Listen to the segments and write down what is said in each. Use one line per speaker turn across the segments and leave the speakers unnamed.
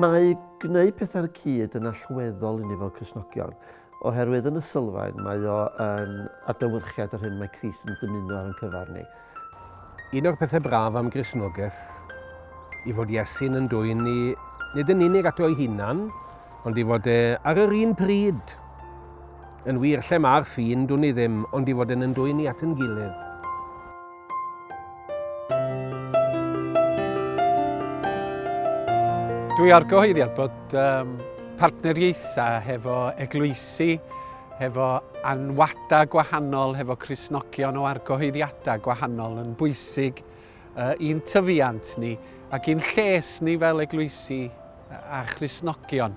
Mae gwneud pethau ar y cyd yn allweddol i ni fel Cristnogion. Oherwydd yn y sylfaen mae o yn adlewyrchiad yr hyn mae Crist yn dymuno ar ein cyfer ni. Un o'r
pethau braf am Gristnogaeth yw fod Iesu'n yn dwyn ni nid yn unig ato ei hunan, ond i fod e ar yr un pryd. Yn wir, lle mae'r ffin, dwn i ddim, ond i fod e'n yn dwyn ni at yn gilydd.
Dwi ar gyhoeddiad bod um, partneriaethau hefo eglwysi, hefo anwadau gwahanol, hefo Cresnogion o argyhoeddiadau gwahanol yn bwysig uh, i'n tyfiant ni ac i'n lles ni fel eglwysi a Christnogion.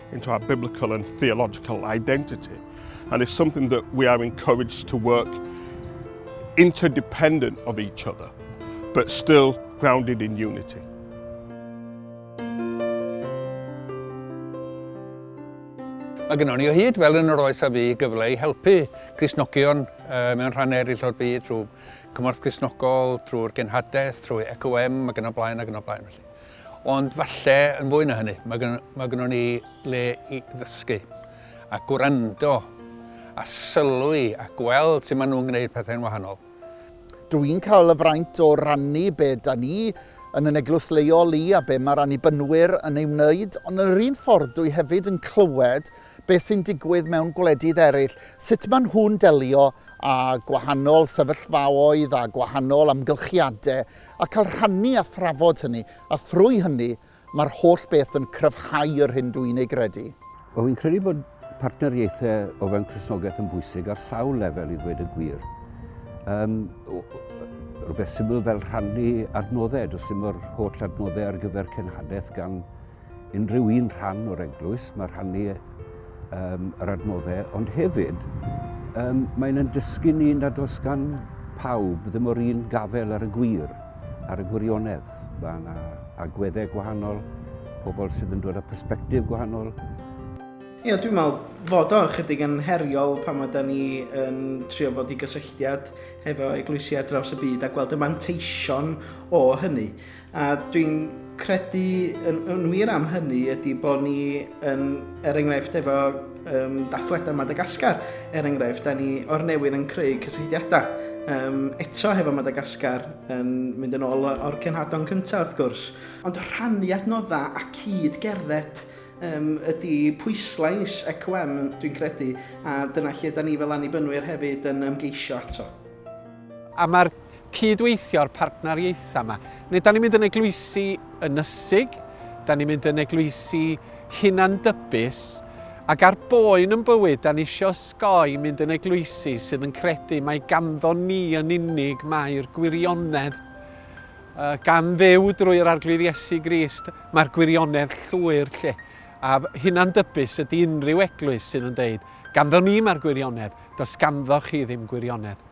into our biblical and theological identity. And it's something that we are encouraged to work interdependent of each other, but still grounded in unity.
Mae gennym ni o hyd fel yn yr oes a fi gyfle i helpu Crisnogion uh, mewn rhan eraill o'r byd trwy cymorth Crisnogol, trwy'r genhadaeth, trwy ECOM ac yn y blaen ac yn y blaen. Felly. Ond falle yn fwy na hynny, mae gynno, mae gynno ni le i ddysgu a gwrando a sylwi a gweld sut maen nhw'n gwneud pethau'n wahanol. Dw i'n
cael y fraint o rannu be da ni yn yn eglwys leol i a be mae'r Annibynwyr yn ei wneud, ond yn yr un ffordd dw i hefyd yn clywed be sy'n digwydd mewn gwledydd eraill, sut maen nhw'n delio â gwahanol sefyllfaoedd a gwahanol amgylchiadau a cael rhannu a thrafod hynny, a thrwy hynny, mae'r holl beth yn cryfhau yr hyn dw i'n ei gredu. Wel, fi'n credu bod
partneriaethau o fewn Cristnogaeth yn bwysig ar sawl lefel i ddweud y gwir. Um, rhywbeth syml fel rhannu adnoddau, does dim yr holl adnoddau ar gyfer cenhadaeth gan unrhyw un rhan o'r eglwys, mae rhannu um, yr adnoddau, ond hefyd um, mae'n yn dysgu ni nad oes gan pawb ddim o'r un gafel ar y gwir, ar y gwirionedd. Mae yna agweddau gwahanol, pobl sydd yn dod â perspektif gwahanol. Ie, yeah,
dwi'n meddwl fod o'n chydig yn heriol pan mae da ni yn trio bod i gysylltiad hefo eglwysiau draws y byd a gweld y manteision o hynny. A dwi'n credu yn, yn wir am hynny ydy bod ni yn, er enghraifft efo um, dathliadau Madagascar, er enghraifft, da ni o'r newydd yn creu cysylltiadau um, eto hefo Madagascar yn mynd yn ôl o'r cenhadon cyntaf wrth gwrs. Ond rhannu adnoddau a cyd gerdded um, ydy pwyslais ECOM, dwi'n credu, a dyna lle da ni fel annibynwyr hefyd yn ymgeisio ato. A
mae'r cyd-weithio'r partneriaethau yma. Neu da ni'n mynd yn eglwysi ynysig, da ni'n mynd yn eglwysi hunan-dybus, ac ar boen yn bywyd, da ni eisiau osgoi mynd yn eglwysi sydd yn credu mae ganddo ni yn unig mae'r gwirionedd uh, gan ddew drwy'r arglwydd Iesu Grist, mae'r gwirionedd llwyr lle. A hunan dybus ydy unrhyw eglwys sydd yn dweud, ganddo ni mae'r gwirionedd, does ganddo chi ddim gwirionedd.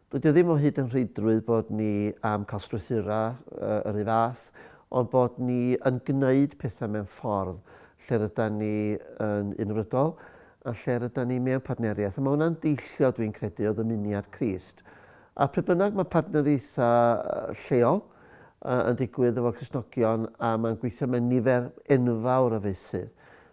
Dydy o ddim o hyd yn rheidrwydd bod ni am cael strwythurau yr un fath, ond bod ni yn gwneud pethau mewn ffordd lle rydan ni yn unfrydol a lle rydan ni mewn partneriaeth. A mae hwnna'n deillio, dwi'n credu, o ddymuniad Crist. A pryd bynnag mae partneriaethau lleol yn digwydd efo Cristnogion a mae'n gweithio mewn nifer enfawr o feysydd,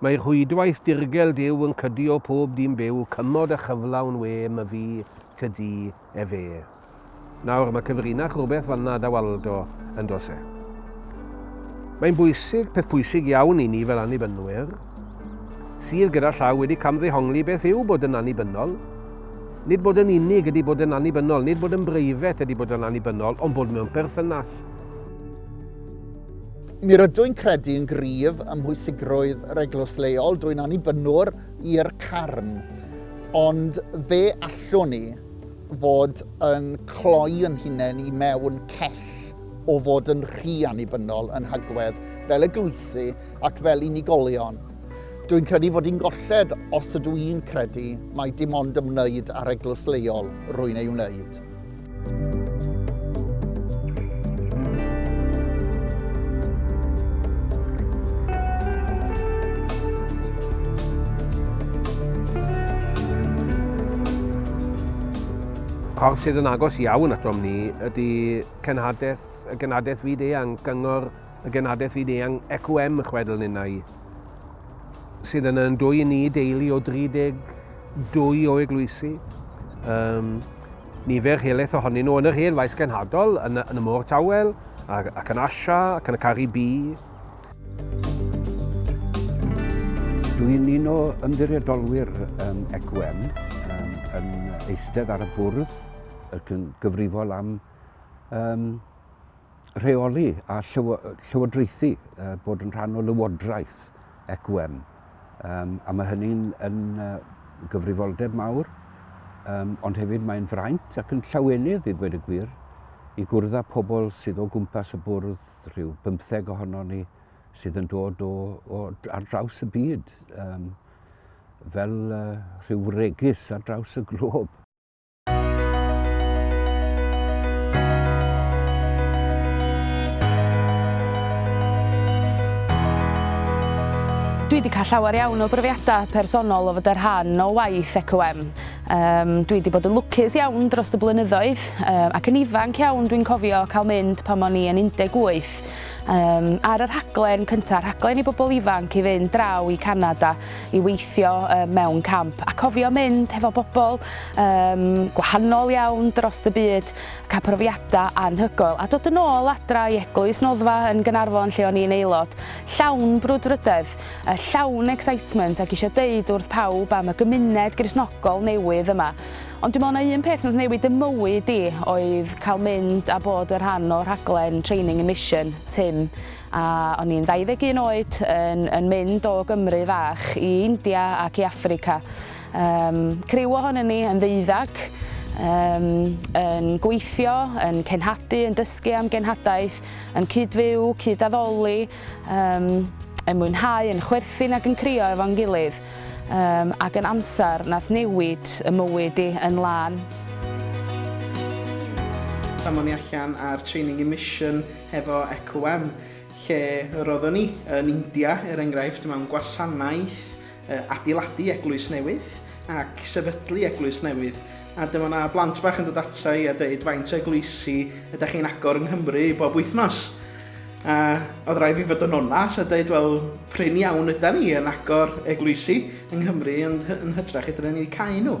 Mae rhwydwaith dirgel Duw yn cydio pob dyn byw, cymod a chyflawn we, my fi, ty di, e fe. Nawr, mae cyfrinach rhywbeth fanna, da Waldo, yn dos e? Mae'n bwysig, peth pwysig iawn i ni fel annibynwyr, sydd gyda llaw wedi camddehongli beth yw bod yn annibynnol. Nid bod yn unig ydy bod yn annibynnol, nid bod yn breifet ydy bod yn annibynnol, ond bod mewn perthynas.
Mi rydw i'n credu yn gryf ym mhwysigrwydd yr eglwys leol, dwi'n annibynnwr i'r carn, ond fe allwn ni fod yn cloi yn hunain i mewn cell o fod yn rhy annibynnol yn hagwedd fel eglwysi ac fel unigolion. Dwi'n credu fod i'n golled os ydw i'n credu mai dim ond ymwneud â'r eglwys leol rwy'n ei wneud.
Corff sydd yn agos iawn atom ni ydy cenhadaeth, y genhadaeth fyd eang, gyngor y genhadaeth fyd eang ECWM chwedl ninnau. sydd yna yn dwy i ni, deulu o 32 o eglwysi. Um, nifer helaeth ohonyn nhw yn yr hen faes genhadol, yn, yn y môr tawel, ac, ac yn Asia, ac yn y Caribi.
Dwi'n un o ymddiriedolwyr um, ECWM um, yn eistedd ar y bwrdd ac yn gyfrifol am um, rheoli a llywodraethu, bod yn rhan o lywodraeth ECWM. Um, a mae hynny'n yn gyfrifoldeb mawr, um, ond hefyd mae'n fraint ac yn llawenydd i ddweud y gwir i gwrdd â pobl sydd o gwmpas y bwrdd, rhyw bymtheg ohono ni, sydd yn dod o, o ar draws y byd, um, fel uh, rhyw regis ar draws y glob.
Dwi wedi cael llawer iawn o brofiadau personol o fod yr rhan o waith ECOM. Um, dwi wedi bod yn lwcus iawn dros y blynyddoedd um, ac yn ifanc iawn dwi'n cofio cael mynd pan o'n i yn 18 um, ar y rhaglen cyntaf, rhaglen i bobl ifanc i fynd draw i Canada i weithio mewn camp a cofio mynd hefo bobl um, gwahanol iawn dros y byd, cael profiadau anhygoel a dod yn ôl adra i eglwys noddfa yn Gynarfon lle o'n i'n aelod, llawn brwdfrydedd, llawn excitement ac eisiau deud wrth pawb am y gymuned grisnogol newydd yma. Ond dwi'n meddwl na un peth wnaeth newid y mywyd i oedd cael mynd a bod y rhan o rhaglen Training and Mission, Tim, A o'n i'n 21 oed yn yn mynd o Gymru fach i India ac i Affrica. Yym, criw ohonyn ni yn ddeuddag, yym, yn gweithio, yn cenhadu, yn dysgu am genhadaeth, yn cyd-fyw, cyd-addoli, yym, yn mwynhau, yn chwerthin ac yn crio efo'n gilydd, yym, ac yn amser nath newid 'y mywyd i yn lân.
Pan o'n i allan ar training immission, hefo ECOM, lle roeddwn i yn India, er enghraifft, mewn gwasanaeth adeiladu eglwys newydd ac sefydlu eglwys newydd. A dyma na blant bach yn dod ata i a dweud faint o eglwysi ydych chi'n agor yng Nghymru bob wythnos. A oedd rhaid fi fod yn onas a dweud, wel, prin iawn yda ni yn agor eglwysi yng Nghymru, ond yn hytrach ydyn ni wedi cael nhw.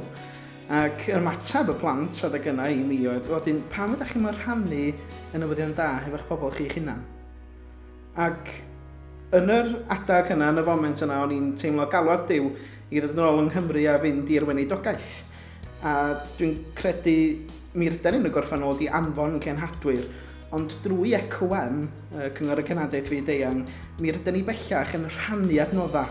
Ac ymateb y plant adeg yna i mi oedd, wel 'dyn pam ydach chi'm yn rhannu y newyddion da hefo'ch pobl chi'ch hunan? Ac yn yr adeg yna, yn y foment yna, o'n i'n teimlo galwad Duw i ddod yn ôl yng Nghymru a fynd i'r weinidogaeth. A dwi'n credu mi rydan ni'n y gorffennol wedi anfon cenhadwyr, ond drwy ECOM, Cyngor y Cenhadaeth Fyd-eang, mi rydan ni bellach yn rhannu adnoddau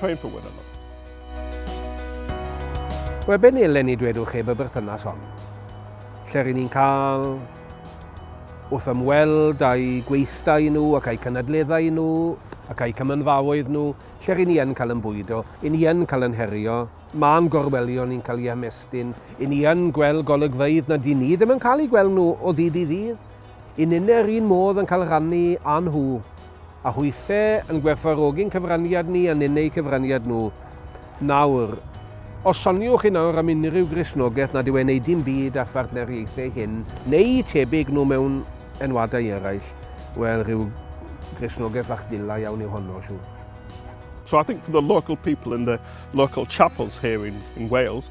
Pray for one another.
Wel, be nelen ni dwedwch heb y berthynas hon? Lle rydyn ni'n cael wrth ymweld â'i gweithdai nhw ac a'i cynadleddau nhw ac a'i cymynfaoedd nhw, lle rydyn ni yn cael yn bwydo, i ni yn cael yn herio, mae'n gorwelion ni'n cael ei ymestyn, i ni yn gweld golygfeydd na dyn ni ddim yn cael ei gweld nhw o ddydd i ddydd. Y ninnau yr un modd yn cael rhannu â nhw, a hwythau yn gwerthfawrogi'n cyfraniad ni a ninnau eu cyfraniad nhw. Nawr, os soniwch chi nawr am unrhyw Gristnogaeth nad yw e'n ei dim byd â phartneriaethau hyn neu'u tebyg nhw mewn enwadau eraill, wel, rhyw Gristnogaeth fach dila iawn yw honno, siŵr. So I
think for the local people in the local chapels here in, in Wales,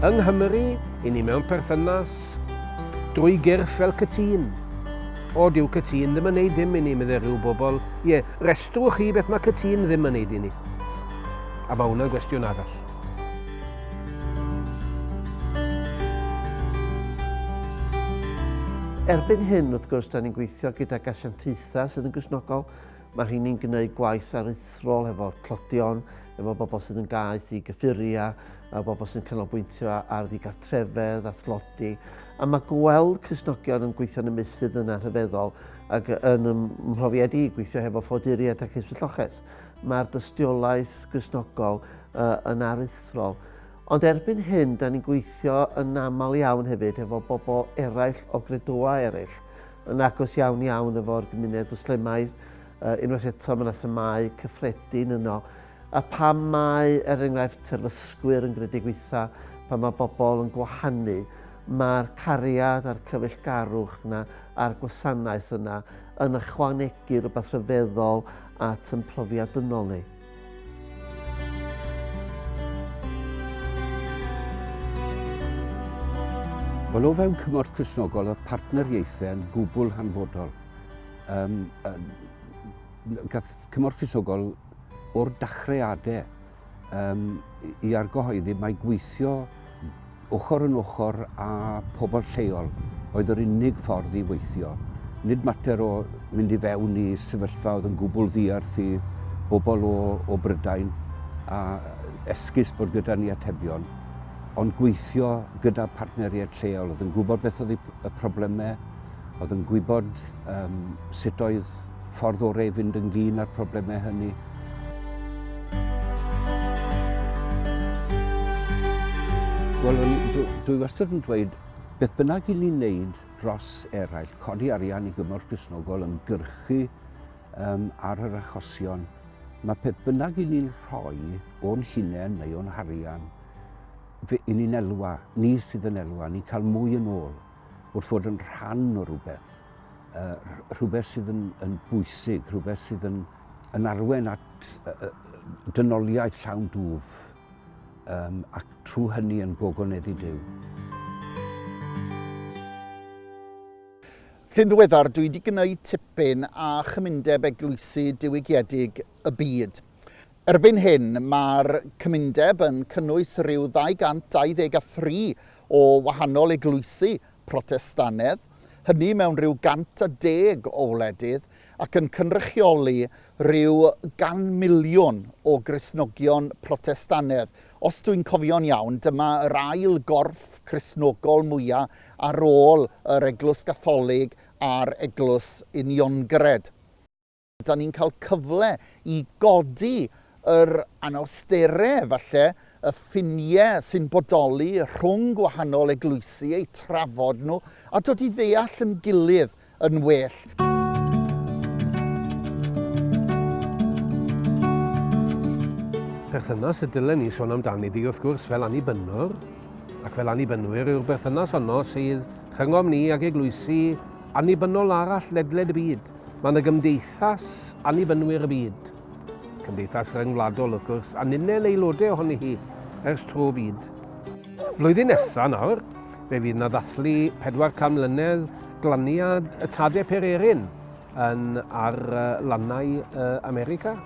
Yng Nghymru, i ni mewn perthynas, drwy gyrff fel cytun. O, dyw cytun ddim yn neud dim i ni, meddai rhyw bobl. Ie, restrwch chi beth mae cytun ddim yn neud i ni. A mae hwnna'n gwestiwn arall.
Erbyn hyn, wrth gwrs, da ni'n gweithio gyda gasiantaethau sydd yn grisnogol. Mae rheiny'n gwneud gwaith aruthrol efo clodion, efo bobl sydd yn gaeth i gyffuria, a bobl sy'n canolbwyntio ar ddigartrefedd a thlodi. A mae gweld Crisnogion yn gweithio'n y meysydd yna rhyfeddol ac yn ym mhrofiad i gweithio hefo ffoduriaid ac esbylloches. mae'r dystiolaeth Gristnogol uh, yn aruthrol. Ond erbyn hyn, da ni'n gweithio yn aml iawn hefyd efo bobl eraill o gredoa eraill, yn agos iawn iawn efo'r gymuned fwslemaidd, uh, unwaith eto mae yna themau cyffredin yno. A pam mae, er enghraifft, terfysgwyr yn gredu gweitha, pan mae bobl yn gwahanu, mae'r cariad a'r cyfeillgarwch yna a'r gwasanaeth yna yn ychwanegu rhywbeth rhyfeddol at yn profiad dynol ni.
Wel, o fewn cymorth Cresnogol oedd partneriaethau yn gwbl hanfodol. Um, um, gath cymorth Cresnogol o'r dachreadau Um, I argyhoeddi mae gweithio ochr yn ochr â pobl lleol oedd yr unig ffordd i weithio. Nid mater o mynd i fewn i sefyllfa oedd yn gwbl ddiarth i bobl o, o Brydain a esgus bod gyda ni atebion, ond gweithio gyda partneriaid lleol oedd yn gwybod beth oedd y problemau oedd yn gwybod um, sut oedd ffordd orau i fynd ynglyn â'r problemau hynny. Wel, dwi, dwi wastad yn dweud, beth bynnag i ni'n neud dros eraill, codi arian i gymorth grisnogol yn gyrchu um, ar yr achosion, mae peth bynnag i ni'n rhoi o'n hunain neu o'n harian, fe, i ni'n elwa, ni sydd yn elwa, ni'n cael mwy yn ôl. wrth fod yn rhan o rhywbeth, rhywbeth sydd yn, yn bwysig, rhywbeth sydd yn, yn arwen at dynoliaeth llawn dwf um, ac trwy hynny yn gogoneddu Dyw.
Cyn ddiweddar, dwi wedi gwneud tipyn a chymundeb eglwysi diwygiedig y byd. Erbyn hyn, mae'r cymundeb yn cynnwys rhyw 223 o wahanol eglwysi Protestannedd, hynny mewn rhyw 110 o wledydd, ac yn cynrychioli rhyw gan miliwn o Gristnogion Protestannedd. Os dwi'n cofio'n iawn, dyma yr ail gorff Cristnogol mwya' ar ôl yr Eglwys Gatholig a'r Eglwys Uniongred. Dan ni'n cael cyfle i godi yr anawsterau, falle, y ffiniau sy'n bodoli rhwng gwahanol eglwysi, eu trafod nhw, a dod i ddeall yn gilydd yn well.
Perthynas y dylen ni sôn amdani di, wrth gwrs, fel annibynnwr, ac fel annibynwyr yw'r berthynas honno sydd rhyngom ni ag eglwysi annibynnol arall ledled y byd. Mae yna gymdeithas annibynwyr y byd, cymdeithas ryngwladol wrth gwrs, a ninnau'n aelodau ohoni hi ers tro byd. Flwyddyn nesaf nawr, fe fydd yna ddathlu 400 mlynedd glaniad y tade pererin yn ar lannau America,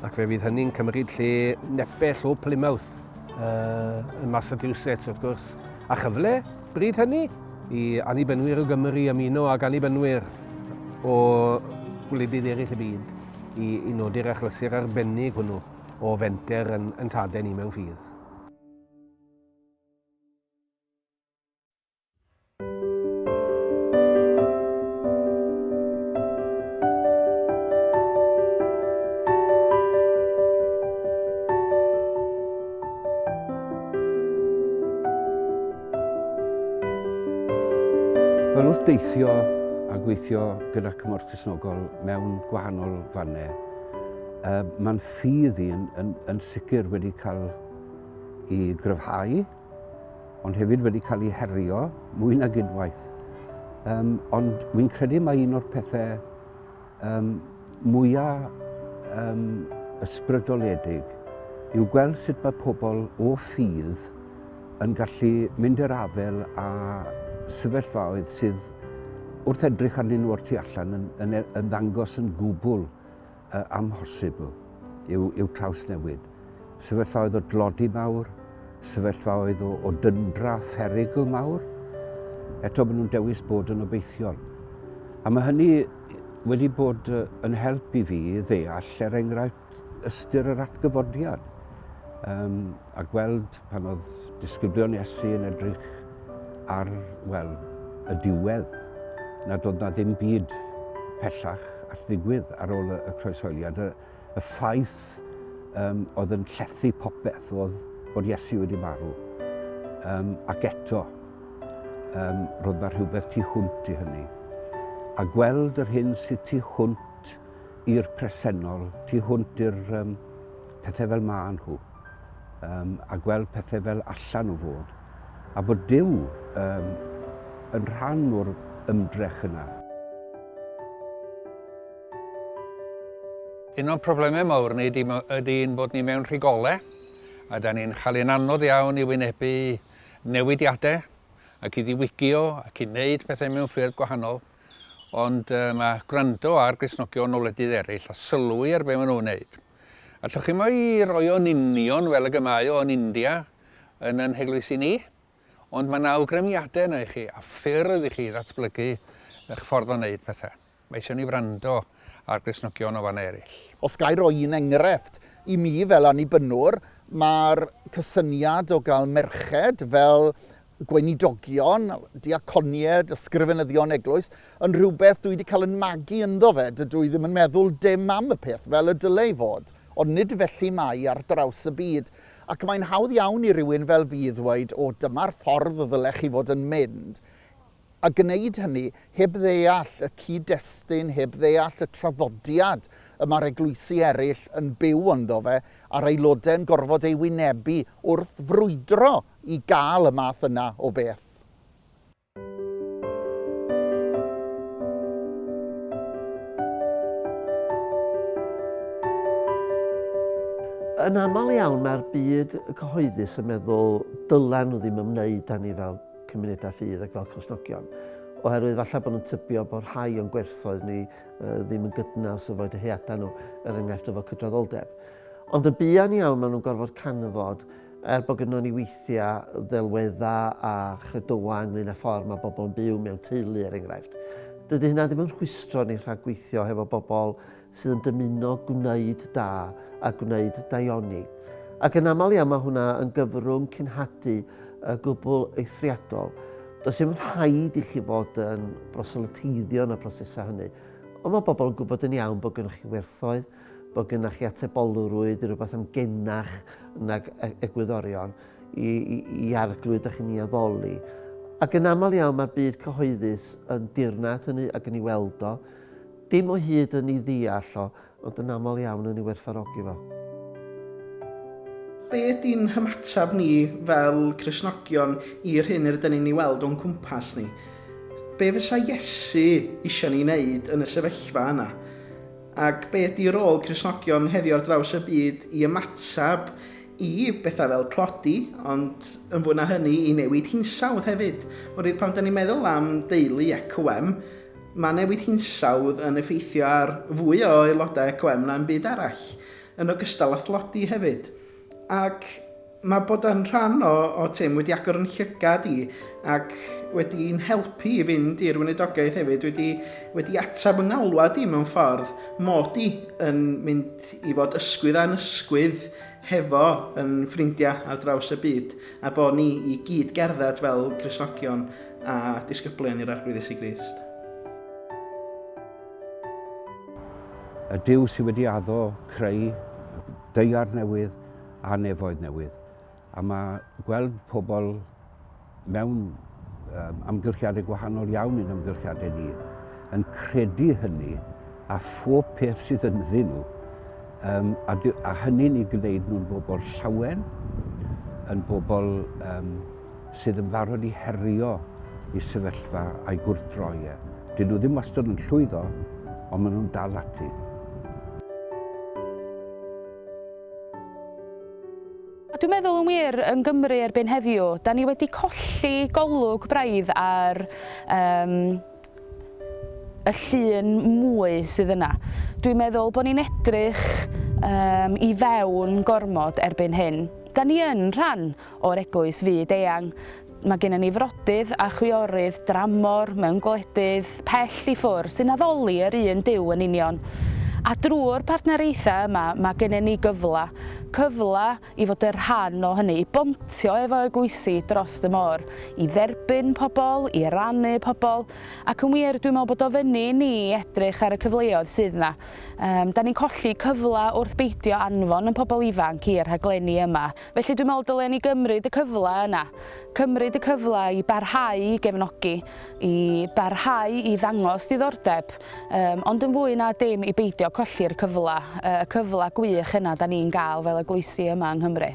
ac fe fydd hynny'n cymryd lle nepell o Plymouth yn Massachusetts wrth gwrs, a chyfle Bryd hynny, i Annibynwyr o Gymru ymuno ag Annibynwyr o wledydd eraill y byd i, i nodi'r achlysur arbennig hwnnw o fenter yn, yn tadau ni mewn ffydd.
Wel, wrth deithio a gweithio gyda Cymorth Cresnogol mewn gwahanol fannau, uh, mae'n ffydd i yn, yn, yn sicr wedi cael i gryfhau, ond hefyd wedi cael ei herio mwy nag unwaith. Um, ond wy'n credu mae un o'r pethau um, mwya um, ysbrydoledig yw gweld sut mae pobl o ffydd yn gallu mynd i'r afel a sefyllfaoedd sydd wrth edrych arnyn nhw o'r tu allan yn, yn, yn ddangos yn gwbl uh, amhosibl i'w, i'w trawsnewid. sefyllfaoedd o dlodi mawr, sefyllfaoedd o, o dyndra pherigl mawr, eto maen nhw'n dewis bod yn obeithiol. A mae hynny wedi bod yn help i fi ddeall, er enghraifft, ystyr yr atgyfodiad. Um, a gweld pan oedd disgyblion Iesu yn edrych ar, wel, y diwedd, nad oedd na ddim byd pellach at ddigwydd ar ôl y croeshoeliad. y ffaith um, oedd yn llethu popeth oedd bod Iesu wedi marw. Um, ac eto, um, roedd yna rhywbeth tu hwnt i hynny. A gweld yr hyn sydd tu hwnt i'r presennol, tu hwnt i'r um, pethau fel maen nhw, um, a gweld pethau fel allan o fod, a bod Dyw um, yn rhan o'r ymdrech yna.
Un o'n problemau mawr ni ydy'n bod ni mewn rhigolau a da ni'n cael ein anodd iawn i wynebu newidiadau ac i ddiwygio ac i wneud pethau mewn ffyrdd gwahanol. Ond uh, mae gwrando ar grisnogion o wledydd eraill a sylwi ar beth maen nhw'n wneud. Allwch chi mai roi o'n union fel y gymau o'n India yn yn heglwysi ni, ond mae yna awgrymiadau yna i chi a ffyrdd i chi ddatblygu eich ffordd o wneud pethau. Mae eisiau ni wrando ar Gristnogion o fannau eraill. Os ga i roi un
enghraifft, i mi fel Annibynwr, mae'r cysyniad o gael merched fel gweinidogion, diaconied, ysgrifenyddion eglwys, yn rhywbeth dwi wedi cael yn magu ynddo fe, dydw i ddim yn meddwl dim am y peth fel y dylai fod, ond nid felly mae ar draws y byd, ac mae'n hawdd iawn i rywun fel fi ddweud, o dyma'r ffordd y ddylech chi fod yn mynd, a gwneud hynny heb ddeall y cyd-destun, heb ddeall y traddodiad y mae'r eglwysi eraill yn byw ynddo fe, a'r aelodau yn gorfod ei wynebu wrth frwydro i gael y math yna o beth.
Yn aml iawn mae'r byd cyhoeddus yn meddwl dylen nhw ddim ymwneud â ni fel cymunedau ffydd ac fel Cresnogion, oherwydd falle bod nhw'n tybio bod rhai o'n gwerthoedd ni uh, ddim yn gydnaws efo dyheadau nhw, er enghraifft efo cydraddoldeb. Ond yn buan iawn maen nhw'n gorfod canfod er bod gyda ni weithiau ddelweddau a chredoau ynglyn â ffordd mae bobl yn byw mewn teulu er enghraifft. Dydy hynna ddim yn rhwystro ni rhag gweithio hefo bobl sydd yn dymuno gwneud da a gwneud daioni. Ac yn aml iawn mae hwnna yn gyfrwng cynhadu y gwbl eithriadol. Does dim rhaid i chi fod yn broselyteiddio yn y prosesau hynny. Ond mae pobl yn gwybod yn iawn bod gennych chi werthoedd, bod gennych chi atebolrwydd i rhywbeth am genach nag e- egwyddorion i, i, i arglwyd a chi'n ei addoli. Ac yn aml iawn mae'r byd cyhoeddus yn dirnad hynny ac yn ei weld o. Dim o hyd yn ei ddeall o, ond yn aml iawn yn ei werthfawrogi fo. Be
ydy'n hymateb ni fel Cristnogion i'r hyn yr ydyn ni'n ei weld o'n cwmpas ni? Be fysa Iesu eisiau ni wneud yn y sefyllfa yna? Ac be ydy rôl Cristnogion heddiw ar draws y byd i ymateb i bethau fel tlodi, ond yn fwy na hynny i newid hinsawdd hefyd? Oherwydd pan 'da ni'n meddwl am deulu EQM, Mae newid hinsawdd yn effeithio ar fwy o aelodau ECOM na'm byd arall, yn ogystal â thlodi hefyd. Ac mae bod yn rhan o OTIM wedi agor yn llygad i ac wedi i'n helpu i fynd i'r weinidogaeth hefyd, wedi wedi ateb yng ngalwad i mewn ffordd, mod i yn mynd i fod ysgwydd a'n ysgwydd hefo yn ffrindiau ar draws y byd a bod ni i gyd gerdded fel Cristnogion a disgyblion i'r Arglwydd Iesu Grist.
Y Duw sydd wedi addo, creu deiar newydd a nefoedd newydd. A mae gweld pobl mewn amgylchiadau gwahanol iawn i'n amgylchiadau ni, yn credu hynny a phob peth sydd ynddyn nhw, um, a, a hynny'n ei gwneud nhw'n bobl llawen, yn bobl um, sydd yn barod i herio i sefyllfa a'i gwrtdroi e. Dyn nhw ddim wastad yn llwyddo, ond maen nhw'n dal ati.
A dwi'n meddwl yn wir, yn Gymru erbyn heddiw, da ni wedi colli golwg braidd ar um, y llun mwy sydd yna. Dwi'n meddwl bod ni'n edrych um, i fewn gormod erbyn hyn. Da ni yn rhan o'r eglwys fyd eang. Mae gennym ni frodydd a chwiorydd dramor mewn gwledydd pell i ffwrdd sy'n addoli yr un Duw yn union. A drwy'r partneriaethau yma, mae gennym ni gyfle, cyfle i fod yn rhan o hynny, i bontio efo eglwysi dros y môr, i dderbyn pobl, i rannu pobl, ac yn wir, dwi'n meddwl bod o fyny i ni i edrych ar y cyfleoedd sydd yna. Da ni'n colli cyfle wrth beidio anfon yn pobl ifanc i'r rhaglenni yma. Felly dwi'n meddwl dylen ni gymryd y cyfle yna, cymryd y cyfle i barhau i gefnogi, i barhau i ddangos diddordeb, um, ond yn fwy na dim i beidio colli'r cyfle, y cyfle gwych yna da ni'n gael fel eglwysi yma yng Nghymru.